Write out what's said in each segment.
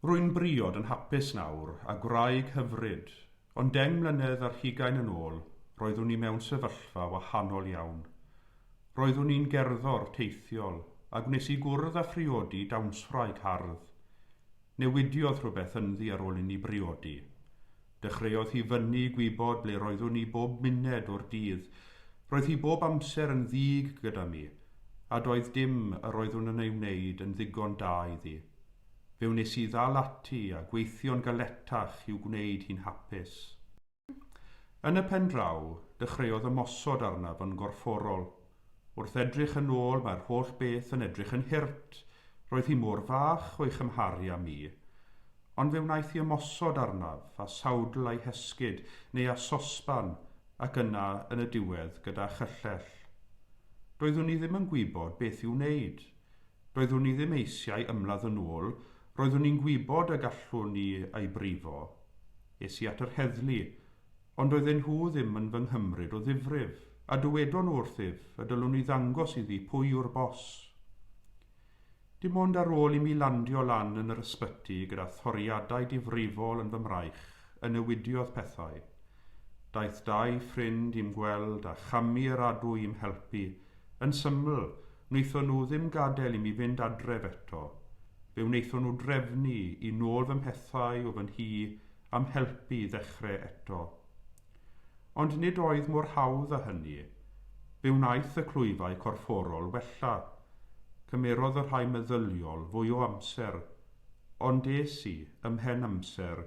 Rwy'n briod yn hapus nawr, a gwraig hyfryd, ond deng mlynedd ar hugain yn ôl, roeddwn i mewn sefyllfa wahanol iawn. Roeddwn i'n gerddor teithiol, a gwnes i gwrdd â phriodi dawnswraig hardd. Newidiodd rhywbeth ynddi ar ôl inni briodi. Dechreuodd hi fynnu i gwybod ble roeddwn i bob muned o'r dydd. Roedd hi bob amser yn ddig gyda mi, a doedd dim yr oeddwn yn ei wneud yn ddigon da iddi. Fe wnes i ddal ati a gweithio'n galetach i'w gwneud hi'n hapus. Yn y pen draw, dechreuodd ymosod arnaf yn gorfforol. Wrth edrych yn ôl mae'r holl beth yn edrych yn hurt, roedd hi mor fach o'i chymharu â mi. Ond fe wnaeth hi ymosod arnaf, â sawdl a'i hesgid, neu â sosban, ac yna, yn y diwedd, gyda chyllell. Doeddwn i ddim yn gwybod beth i'w wneud. Doeddwn i ddim eisiau ymladd yn ôl, roeddwn i'n gwybod y gallwn i ei brifo. Es i at yr heddlu, Ond oedden nhw ddim yn fy nghymryd o ddifrif, a dywedon nhw wrthyf y dylwn i ddangos iddi pwy yw'r bos. Dim ond ar ôl i mi landio lan yn yr ysbyty gyda thoriadau difrifol yn fy mraich y newidiodd pethau. Daeth dau ffrind i'm gweld a chamu yr adwy i'm helpu, yn syml, wnaethon nhw ddim gadael i mi fynd adref eto. Fe wnaethon nhw drefnu i nôl fy mhethau o fy nhŷ a'm helpu i ddechrau eto. Ond nid oedd mor hawdd â hynny. Fe wnaeth y clwyfau corfforol wella. Cymerodd y rhai meddyliol fwy o amser. Ond es i, ymhen amser,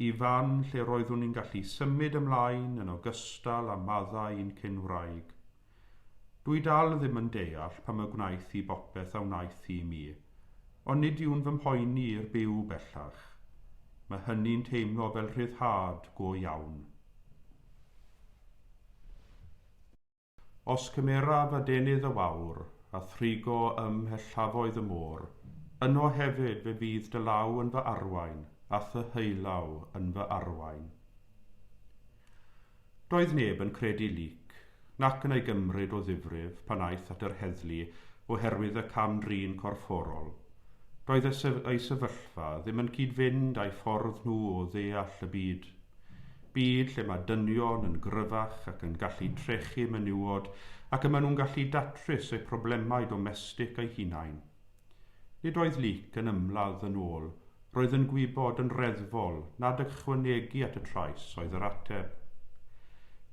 i fan lle roeddwn i'n gallu symud ymlaen yn ogystal â maddau i'n cyn-wraig. Dwi dal ddim yn deall pam y gwnaeth hi bopeth a wnaeth hi i mi, ond nid yw'n fy mhoeni i'r byw bellach. Mae hynny'n teimlo fel rhyddhad go iawn. Os cymeraf adenydd y wawr, a thrigo ym mhellafoedd y môr, yno hefyd fe fydd dy law yn fy arwain, a thy heulaw yn fy arwain. Doedd neb yn credu Luc, nac yn ei gymryd o ddifrif pan aeth at yr heddlu oherwydd y cam-drin corfforol. Doedd y sy ei sefyllfa ddim yn cyd-fynd â'i ffordd nhw o ddeall y byd. Byd lle mae dynion yn gryfach ac yn gallu trechu menywod ac y maen nhw'n gallu datrys eu problemau domestig eu hunain. Nid oedd Luc yn ymladd yn ôl, roedd yn gwybod yn reddfol nad ychwanegu at y trais oedd yr ateb.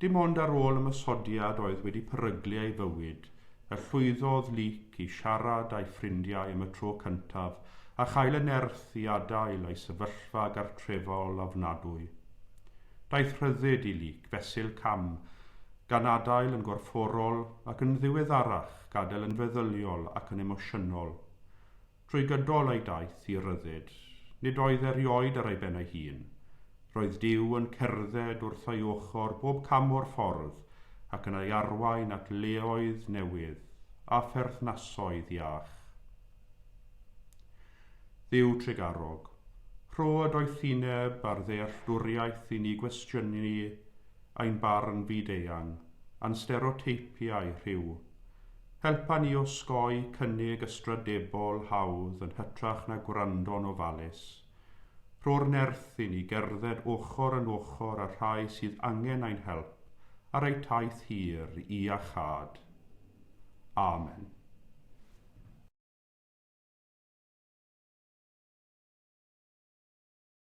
Dim ond ar ôl ymosodiad oedd wedi peryglu ei fywyd y llwyddodd Luc i siarad â'i ffrindiau am y tro cyntaf a chael y nerth i adael ei sefyllfa gartrefol ofnadwy. Daeth rhyddid i Luc fesul cam gan adael yn gorfforol ac yn ddiweddarach gadael yn feddyliol ac yn emosiynol. Trwy gydol ei daith i ryddid, nid oedd erioed ar ei ben ei hun. Roedd Duw yn cerdded wrth ei ochr bob cam o'r ffordd ac yn ei arwain at leoedd newydd a pherthnasoedd iach. Dduw trugarog, rho y doethineb a'r ddealltwriaeth i ni gwestiynu ein barn fyd-eang, a'n stereoteipiau rhyw. Helpa ni osgoi cynnig ystrydebol hawdd yn hytrach na gwrando'n ofalus. Rho'r nerth i ni gerdded ochr yn ochr â'r rhai sydd angen ein help ar eu taith hir i iachâd. Amen.